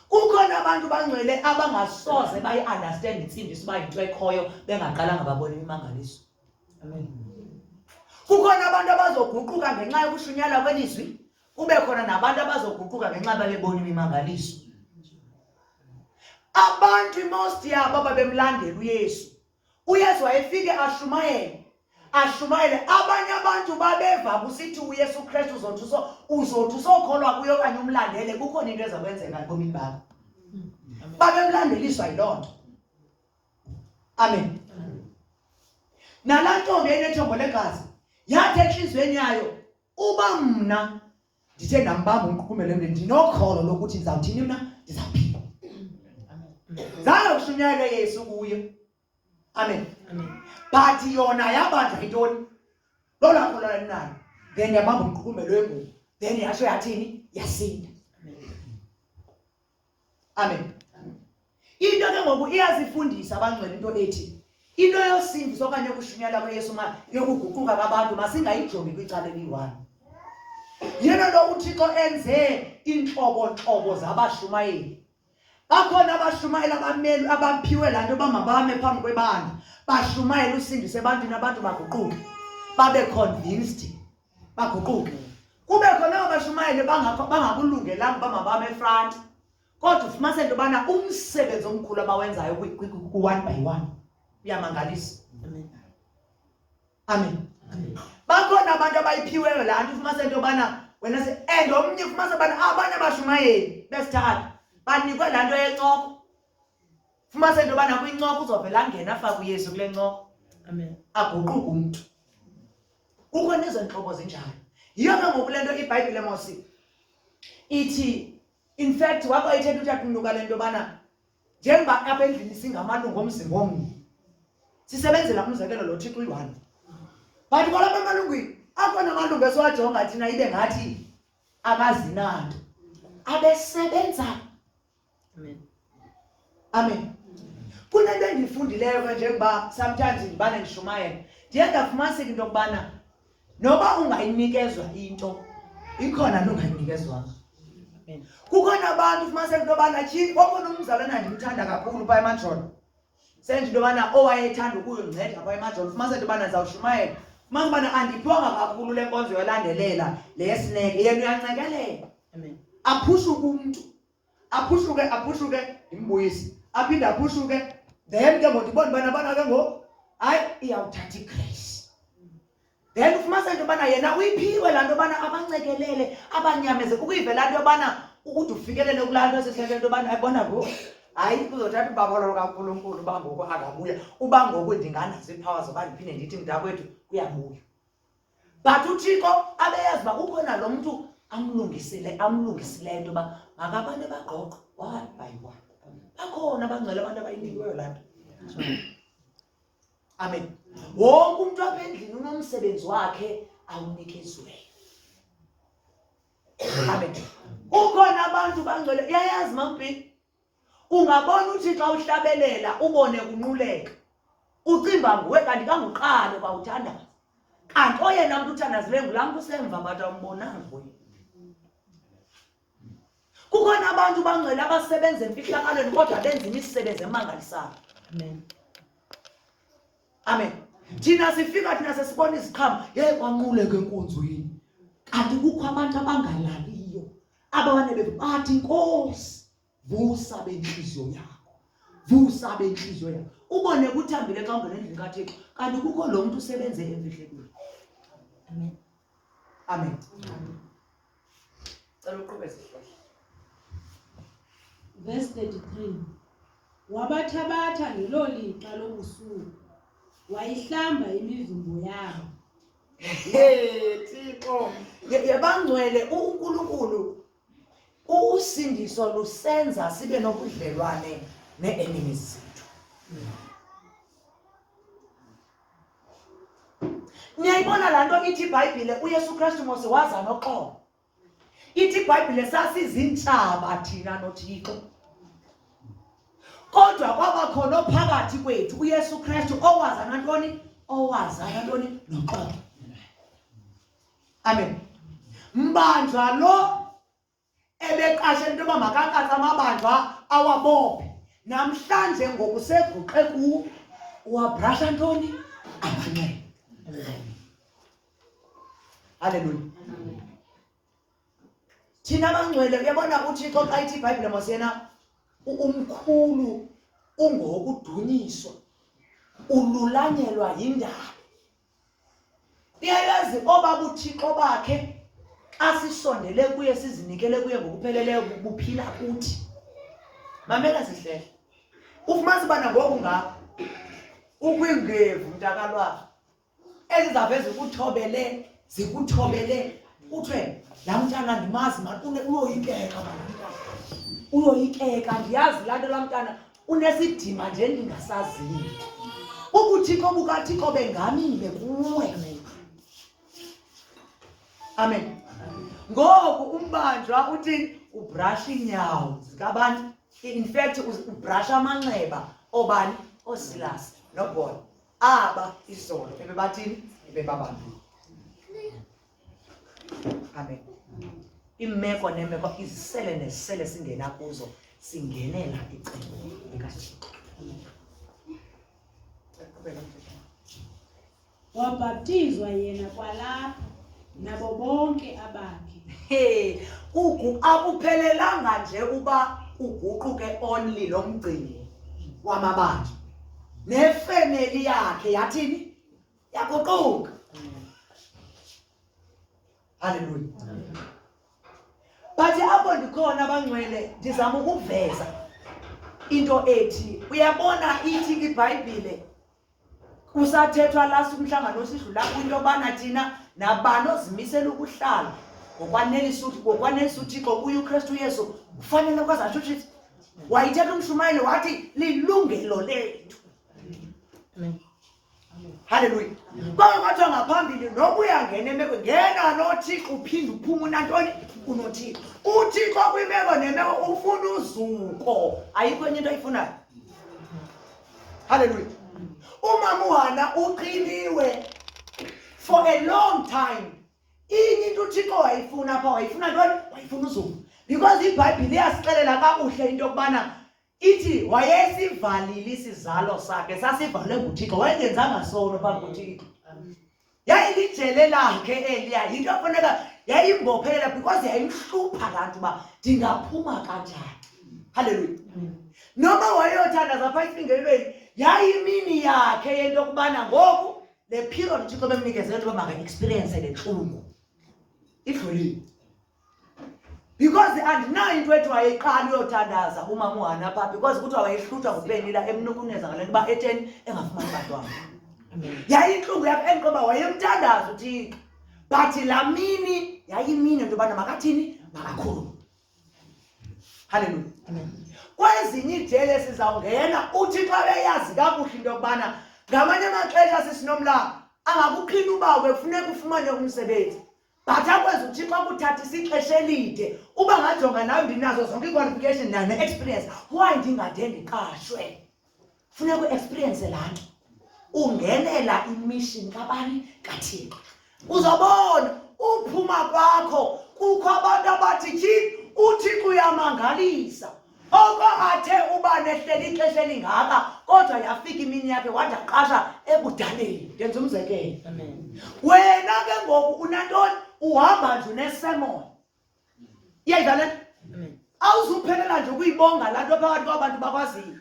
kukho nabantu bangcwele abangasoze bayi-understand intsindiso uba yinto ekhoyo bengaqalanga babona imimangaliso amen kukho nabantu abazoguquka ngenxa yokushunyala kwelizwi kube khona nabantu abazoguquka ngenxa babebona imimangaliso abantu imost yabo babemlandela uyesu uyesu wayefike ashumayele ashumayele abanye abantu babeva kusithi uyesu kristu uzothi uzothi usokholwa kuyo okanye umlandele kukhona into eza kwenzeka ebomini bakho babemlandeliswa yiloo nto amen nalaa ntombi enethombo legazi yathi entliziyweni yayo uba mna ndithe ndambamba umqukumelo mntu ndinokholo lokuthi ndizawuthini mna ndizawuphila zange kushunyayelwe yesu kuye amen but yona yabanjwa yintoni loo lakho lona linayo then yabamba umqukumelo wengubo then yatsho yathini yasinda amen into ke ngoku iyazifundisa abangcwele into ethi into yosindiso okanye yokushunyela kweyesu ma yokuguquka kwabantu masingayijongi kwicala eliyi-one yena lo uthixo enze iintlobontlobo zabashumayeli bakhona abashumayeli abameli abaphiwe laa nto bamabame phambi kwebandla bashumayela usindise ebantwini abantu baguquke babe convinced baguquke kube khona abashumayeli bangakulungelanga uba mabame efranti kodwa ufumanise into yobana umsebenzi omkhulu abawenzayo ku-one by one uyamangalisa amen bakhona abantu abayiphiweyo laa nto ufumanise into yobana wena se and omnye ufumanise ubana abanye abashumayeli besithatha banikwe laa nto yencoko fumanise into yobana kwincoko uzovela angena afake uyesu kule ncoko aguquke umntu kukho nezo ntlobo zinjalo yiyo ke ngoku le nto ibhayibhile mosi ithi in fact wako ithetha uthatha umnuka le nto yobana njengoba apha endlini singamalungu omzimba omnye sisebenzela umzekelo lo thixo uyi-one but kwalapha emalungwini akhona amalungu esiwajonga thina ibe ngathi akazinanto abesebenza Amen. Amen. Kuna into endiyifundileyo ke njengoba sometimes ndibana ndishumayela ndiye ndafumaniseka into yokubana noba ungayinikezwa into ikhona nongayinikezwanga kukhona abantu ufumaniseka into yobana tyhini okhona umzalwana ndimthanda kakhulu phaa emajolo senje into yobana owayethanda ukuyongceda phaa emajolo ufumaniseka into yobana ndizawushumayela fumanisa ubana andiphiwanga kakhulu le nkonzo yolandelela le yesineke yena uyancekelela aphushuke umntu aphuhluke aphuhluke ndimbuyise aphinde aphuhluke then ke ngoku ndibona ubana bana ke ngoku hayi iyawuthatha igrace then ufumaniseke into yobana yena uyiphiwe laa nto yobana abancekelele abanyameze ukuyivela nto yobana ukuthi ufikelele kulaa nto esihleke nto yobana ayibona ngoku hayi kuzothatha ubabalolo kankulunkulu uba ngoku akabuya uba ngoku ndinganazo iiphawa zoba ndiphinde ndithi mntakwethu kuyabuya but uthixo abeyazi uba kukhona lo mntu amlungisile amlungisileyo into yoba makabantu bagqogqo one by one bakhona abangcwele abantu abayinikiweyo laa nto amen wonke umntu apha endlini unomsebenzi wakhe awunikeziweyo amen ukhona abantu bangcwele uyayazi mambhini ungabona uthixo awuhlabelela ubone kunquleka ucimba nguwe kanti kanguqalo kwawuthandaza kanti oyena mntu uthandazile ngulaa mntu usemva mbathi awumbonanga nguye kukhona abantu bangcwele abasebenza emfihlakalweni kodwa benza imisebenzi emangalisayo amen amen thina sifika thina sesibona iziqhamo ye kwanquleke enkonzweni kanti kukho abantu abangalaliyo aba banebephi bathi nkosi vusa bentliziyo yakho vusa bentliziyo yakho ubone kuthambile xa ungena endlini kathixo kanti kukho lo mntu usebenze emfihlekweni amen amen cela uqhube sihlahla verse 33 wabathabatha ngelo lixa lobusuku wayihlamba imivimbo yabo thixo yabangcwele unkulunkulu usindiso lusenza sibe nobudlelwane nee-enemies zethu niyayibona laa nto ithi ibhayibhile uyesu kristu mose waza noxolo ithi ibhayibhile sasizintshaba thina nothixo kodwa kwaba khona ophakathi kwethu uyesu kristu owaza nantoni owaza nantoni noxolo amen mbanjwa lo ebeqashe into yoba makakatsa amabanjwa awabophe namhlanje ngokuseguqe kuwo uwabrasha ntoni amanxeba Haleluya. Thina bangcwele uyabona uThixo xa ithi iBhayibhile masiyena umkhulu ungokudunyiswa ululanyelwa yindaba. Iyayazi oba buthixo bakhe asisondele kuye sizinikele kuye ngokupheleleyo buphila kuthi. Mamela sihlele. Ufumanisa ubana ngoku ngapha ukwingevu mntakalwayo ezizaveze kuthobele zikuthobele kuthiwe laa mntana ndimazi mani uyoyikeka mani uyoyikeka ndiyazi laa nto laa mntana unesidima nje ndingasaziyo ubuthixo bukathixo bengamile kuwe amen ngoku umbanjwa uthi ubrasha iinyawo zikabani in fact ubrasha amanxeba obani oosilasi nobona aba izolo ebebathini ebebabambile amen iimeko neemeko izisele nezisele singena kuzo singenela icingo likathixo wabhaptizwa yena kwalapho nabo bonke abakhe he ugu akuphelelanga nje uba uguquke only lo mgcini wamabandla nefemeli yakhe yathini yaguquka haleluya bathi apho ndikhona abangcwele ndizama ukuveza into ethi uyabona ithi ibhayibhile kusathethwa lasi umhlangano osidlula kwinto yobana thina nabani ozimisela ukuhlala ngokwanelisa uthixo kuye ukristu yesu kufanele kwazi atsho uthixo wayithetha umshumayeli wathi lilungelo lethu halleluya kwake kwathiwa ngaphambili noba uyangena emeko ngena nothixo uphinde uphuma unantoni unothixo uthixo kwimeko nemeko ufuna uzuko ayikho enye into ayifunayo Hallelujah. Umama uhana uqiniwe for a long time. Inye into uThixo wayifuna apha wayifuna ntoni? Wayifuna uZuma. Because iBhayibhile iyasixelela kakuhle into yokubana ithi wayesivalile isizalo sakhe sasivalwe nguThixo wayengenzanga sono phambi kuThixo. yayilijele lakhe eliya yinto afuneka yayimbophelela because yayimhlupha laa nto uba ndingaphuma kanjani halleluya noma wayeyothandaza phaa isingelweni yayimini yakhe yento yokubana ngoku le period uthixo bemnikezele nto uba maka-experience le ntlungu idlulile because andinayo into ethi wayeqala uyothandaza umama uhana pha because kuthiwa wayehlutshwa ngupenila emnukuneza ngale nto uba etheni engafumani bantwana yayintlungu yakho endiqoba wayemthandaza uthixo but laa mini yayimini into yobana makathini makakhulu halleluya kwezinye ijele sizawungena uthi xa beyazi kakuhle into yokubana ngamanye amaxesha sisinomlanga angakuqhina ubawo bekufuneka ufumane umsebenzi but akwenza uthixo akuthathisa ixesha elide uba ngajonga nawe ndinazo zonke iiqualification nayo ne-experience why ndingade ndiqashwe funeka uexperience laa nto ungenela imission kabani kathixo uzobona uphuma kwakho kukho abantu abathi tyhini uthixo uyamangalisa Oko athe uba nehleli ixesha elingaka kodwa yafika imini yakhe wade aqasha ebudaleni ndenza umzekelo Amen. wena ke ngoku unantoni uhamba nje unesemona iyayidlale Amen. awuzuphelela nje ukuyibonga laa nto phakathi kwabantu bakwaziyo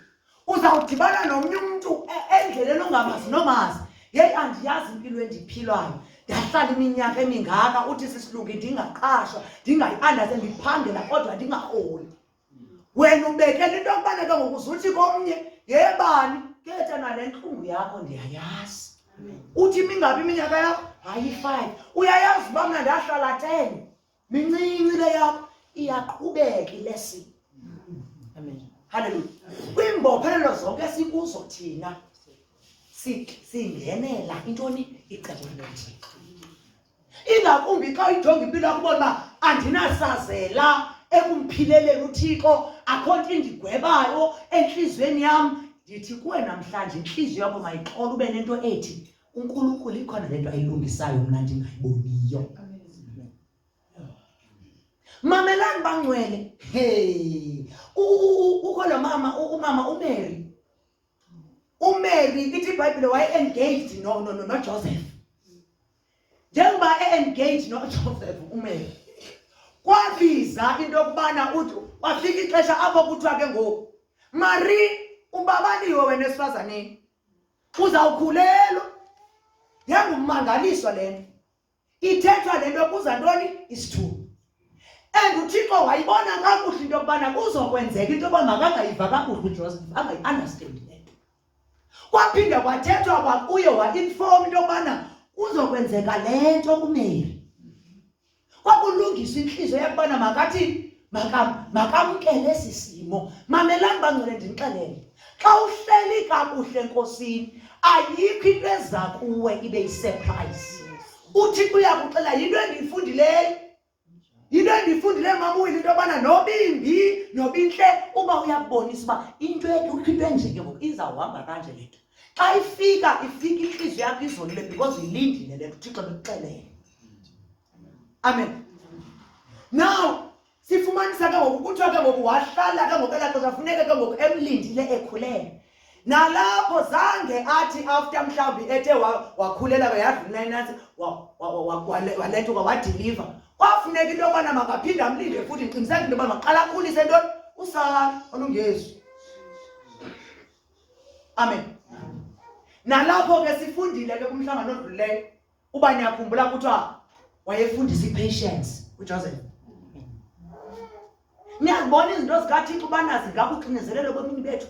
uzawudibana nomnye umntu e-, endleleni ongamazi nomazi yeyi andiyazi impilo endiphilwayo ndahlala iminyaka emingaka uthi sisilungi ndingaqashwa ndingayiandaze ndiphangela kodwa ndingaholi wena ubekela into yokubana ke ngoku zuthi komnye yebani ketha nale ntlungu yakho ndiyayazi uthi imingaphi iminyaka yakho hayi five uyayazi uba mna ndahlala ten mincinci le yakho iyaqhubeka ilesi amen haleluya kwiimbophelelo zonke sikuzo thina singenela intoni icebo likathixo ingakumbi xa uyijonga impilo yakubona uba andinasazela ekumphileleni uthixo akho nto indigwebayo entliziyweni yam ndithi kuwe namhlanje intliziyo yakho mayixola ube nento ethi uNkulunkulu ikhona lento ayilungisayo mna ndingayiboniyo mamelani bangcwele hey kukho lo mama umama umary umary ithi ibhayibhile waye-engaged nojoseph njengoba e-engaged nojoseph umary kwabiza into yokubana uthi kwafika ixesha apho kuthiwa ke ngoku mari ubabaliwe wena esifazaneni uzawukhulelwa yangummangaliso le nto ithethwa le nto kuza ntoni isithuba and uthixo wayibona kakuhle into yokubana kuzokwenzeka into yoba makangayiva kakuhle ujoseph angayi-andastandi le nto kwaphinde kwathethwa kwakuye wainfom into yokubana kuzokwenzeka le nto kumeri kwakulungisa intliziyo yakubana makathi makamkele esi simo mamelani bangcwele ndinixelele xa uhleli kakuhle enkosini ayikho into eza kuwe ibe yisurprise uthixo uyakuxela yinto endiyifundileyo yinto endiyifundileyo mamuyile into yobana nobimbi nobintle uba uyakubonisa uba into ekukho into enjeke ngoku izawuhamba kanje le nto xa ifika ifika intliziyo yakho izolile because uyilindile le nto uthixo bekuxelele amen now sifumanisa ke ngoku kuthiwa ke ngoku wahlala ke ngoku elaxesha funeke ke ngoku emlindile ekhulele nalapho zange athi after mhlawumbi ethe wakhulela ke yadlula inansi walethuka wadiliva kwafuneka into yobana makaphinde amlinde futhi ndiqiniseka into yoba maqala akhulise ntoni usana olungezwi amen nalapho ke sifundile ke kumhlangano odluleyo uba niyakhumbula kuthiwa wayefundisa i-patience ujoseph niyazibona izinto zikathixo ubana zingakuxinezelelo kwemini bethu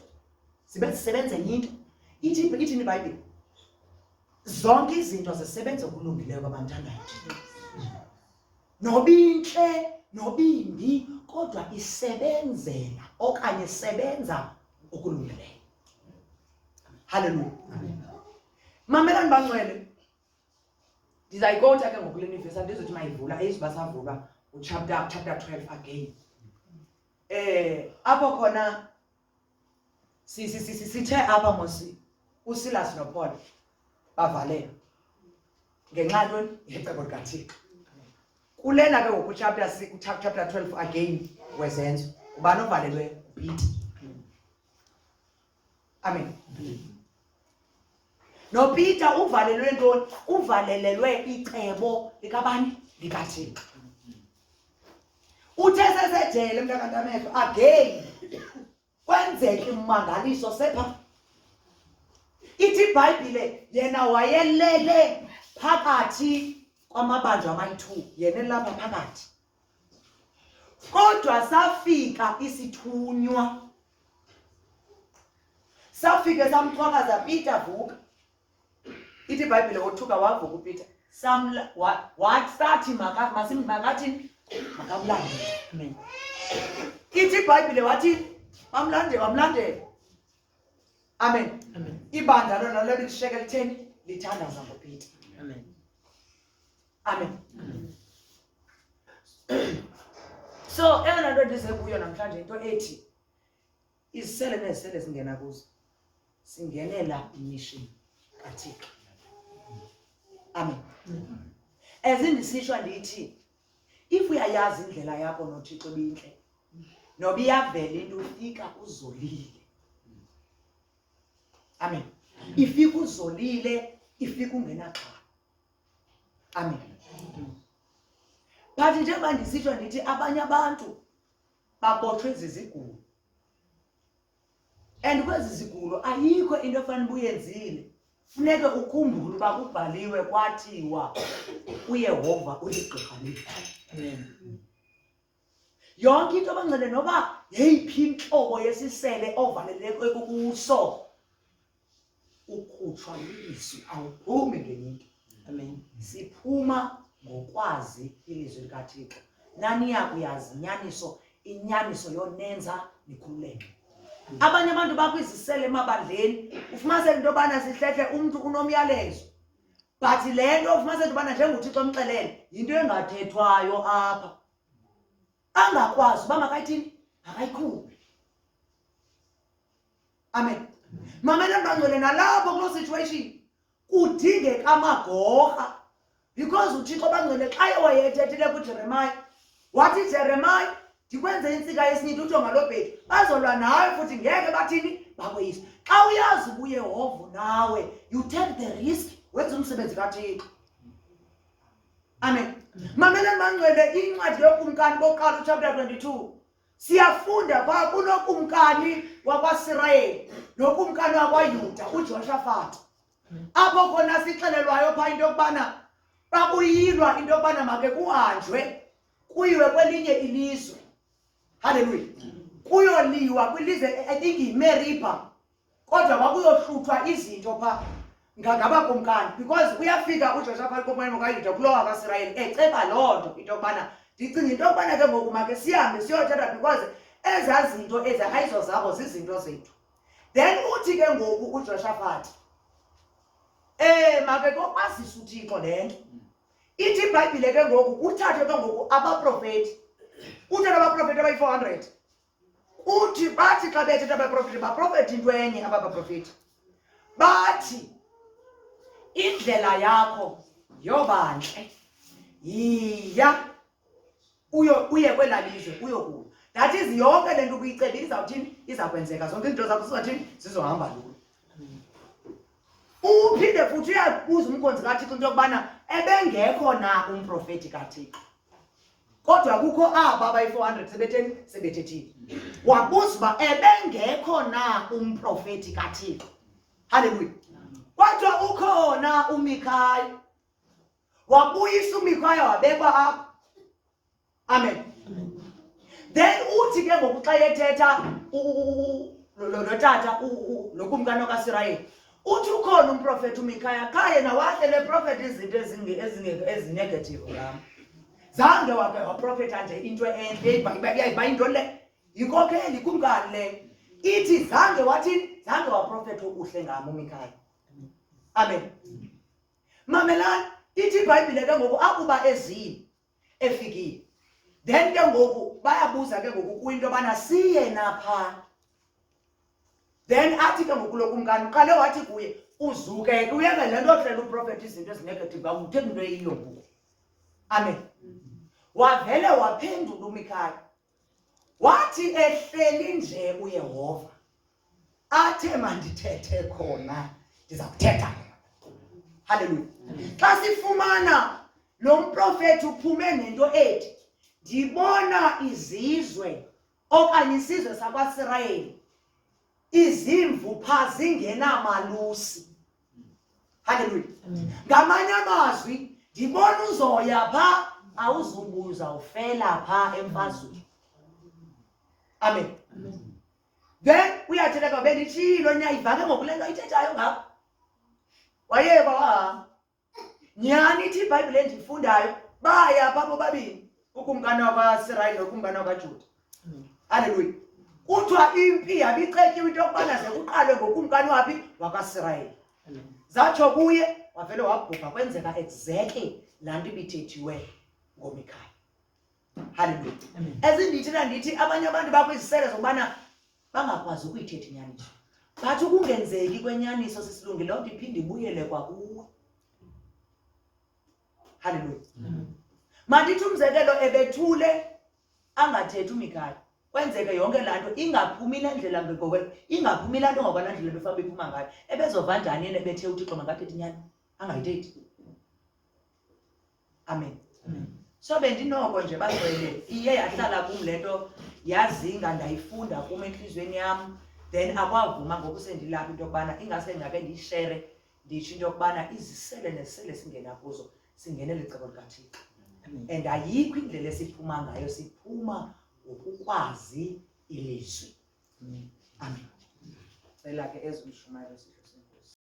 zibe zisebenze enye into ithi ithini ibhayibhile zonke izinto zisebenza okulungileyo kwabanthandayo nobintle nobimbi kodwa isebenzela okanye sebenza okulungileyo haleluya mamelani bancwele ndizayikota ke ngokule nivesi andizothi mayivula eyiziba savulwa uchapter chapter 12 again eh apho khona sithe apha mosi usilas nopaul bavalelwa ngenxa ntoni yecebo likathixo kulena ke ngoku chapter chapter 12 again wezenzo ubani ovalelwe ubhiti amen nopeter uvalelwe ntoni uvalelelwe icebo likabani likathixo uthe sesejele mntakantamehlo again kwenzeke ummangaliso sepha ithi ibhayibhile yena wayelele phakathi kwamabanjwa amayi-two yena elapha phakathi Kodwa safika isithunywa, safike samchwakaza, Peter vuka. Ithi iBhayibhile wothuka wavuka uPeter, samla wathi sathi makathi makathini makamlande mina ithi ibhayibhile wathi bamlandela wamlandela amen ibandla lona lelo lisheke litheni lithandaza ngopeter amen amen so eyona nto ndize kuyo namhlanje into ethi izisele nezisele zingena kuzo singenela imission kathixo amen as ndisitsho ndithi if uyayazi indlela yakho nothixo ebintle noba iyavela into ufika uzolile amen ifika uzolile ifika ungenaxhala amen but njengoba ndisitsho ndithi abanye abantu babotshwe zizigulo and kwezi zigulo ayikho into efana uba uyenzile funeke ukhumbule uba kubhaliwe kwathiwa uyehova uligqirha leli yonke into abancele noba yeyiphi intlobo yesisele ovaleleko ekukuso ukhutshwa lilizwi awuphumi ngenye into amen siphuma ngokwazi ilizwi likathixo naniya kuyazi inyaniso inyaniso yonenza nikhululeke abanye abantu bakwizisele emabandleni ufumaniseka into yobana sihlehle umntu unomyalezo but le nto ufumaniseka into yobana njengothixo omxelele yinto engathethwayo apha angakwazi uba makayithini akayikhuphe amen mamela ntangcwele nalapho kuloo situation kudingeka amagorha because uthixo bangcwele xa ewayethethile kujeremaya wathi jeremaya ndikwenze intsika yesinyithi utsho ngaloo bhedi bazolwa nawe futhi ngeke bathini bakweyisa xa uyazi ubuyehova nawe you take the risk wenza umsebenzi kathixo amen mameleni bangcwele incwadi yokumkani boqala uchapter 22 siyafunda kwa kunokumkani wakwaSirayeli nokumkani wakwaYuda uJoshafat apho khona sixelelwayo pha into yokubana bakuyilwa into yokubana make kuhanjwe kuyiwe kwelinye ilizwe haleluya kuyoliwa kwilizwe i think yimeriba kodwa kwakuyohluthwa izinto pha ngabakumkani because uyafika uJoshaphati komoya kaYuda kulowa kaSirayeli eceba loo nto into yokubana ndicinga into yokubana ke ngoku make sihambe siyothetha because ezaa zinto ezi ayizo zabo zizinto zethu then uthi ke ngoku uJoshaphati um make kokwazisa uthixo le nto ithi ibhayibhile ke ngoku kuthathwe ke ngoku abaprofeti kuthathwe abaprofeti abayi-four hundred Kuthi bathi xa bethetha abaprofeti baprofeti into enye aba baprofeti bathi indlela yakho yobantle yiya uyo uye kwela lizwe uyokuya that is yonke le nto ubuyicebe izawuthini iza kwenzeka zonke izinto zakho sizathini zizohamba lula uphinde futhi uyabuza umkhonzi kathixo into yokubana ebengekho na umprofeti kathixo kodwa kukho aba abayi-400 sebetheni sebethethile wabuza uba ebengekho na umprofeti kathixo halleluya kodwa ukhona umikhaya wabuyisa umikhaya wabekwa apho amen then uthi ke ngoku xa ethetha lo tata nokumkani okasirayeli uthi ukhona umprofethi umikhaya kaye nawahle le profethi izinto ezinegative ngam zange wake waprofetha nje into entle bayinto le yinkokheli kumkani le ithi zange wathini zange waprofetha uhle ngam umikhaya amen mamelani ithi ibhayibhile ke ngoku akuba ezini efikile then ke ngoku bayabuza ke ngoku kuyinto yobana siye napha then athi ke ngoku lokumkani uqale wathi kuye uzuke uyeke le nto ohlela uprofethi izinto ezinegative kakuthi into eyiyo ngoku amen wavele waphendula umikhaya wathi ehleli nje uyehova athe mandithethe khona ndiza kuthetha halleluya xa sifumana lo mprofethi uphume nento ethi ndibona izizwe okanye isizwe sakwasirayeli izimvu pha zingenamalusi haleluya ngamanye amazwi ndibona uzoya pha awuzubuza ufela pha emfazweni amen then uyathetha kwabe nditshilo niyayivake ngokule nto ayithethayo ngapha wayeba wahamba nyhani ithi ibhayibhile endiyifundayo baya pha bobabini ukumkani wakwaisrayeli nokumkani wakwajuda aleluya kuthiwa impi yabicetyiwe into yokubana ze kuqalwe ngokumkani waphi wakasirayeli zatsho kuye wavele wabhubha kwenzeka exactly laa nto ibithethiweyo ngomikhaya haleluya ezindithi nandithi abanye abantu bakwizisele zokubana bangakwazi ukuyithetha inyaniso but ukungenzeki kwenyaniso sisilungile loo nto iphinde ibuyele kwakuwe haleluya mandithi umzekelo ebethule angathethi umikhaya kwenzeke yonke laa nto ingaphumi le ndlela ngekokwe ingaphumi laa nto ngokwana ndlela befabe iphuma ngayo ebezova njani yena ebethe uthixo mangathethi nyani angayithethi amen so bendinoko nje bagcwele iye yahlala kum le nto yazinga ndayifunda kum entliziyweni yam then akwavuma ngoku sendilapha into yokubana ingase ndingake ndiyishere nditsho into yokubana izisele nesele singena kuzo singenele icebo likathixo and ayikho indlela esiphuma ngayo siphuma ngokukwazi ilizwi amen cela ke ezimshumayelo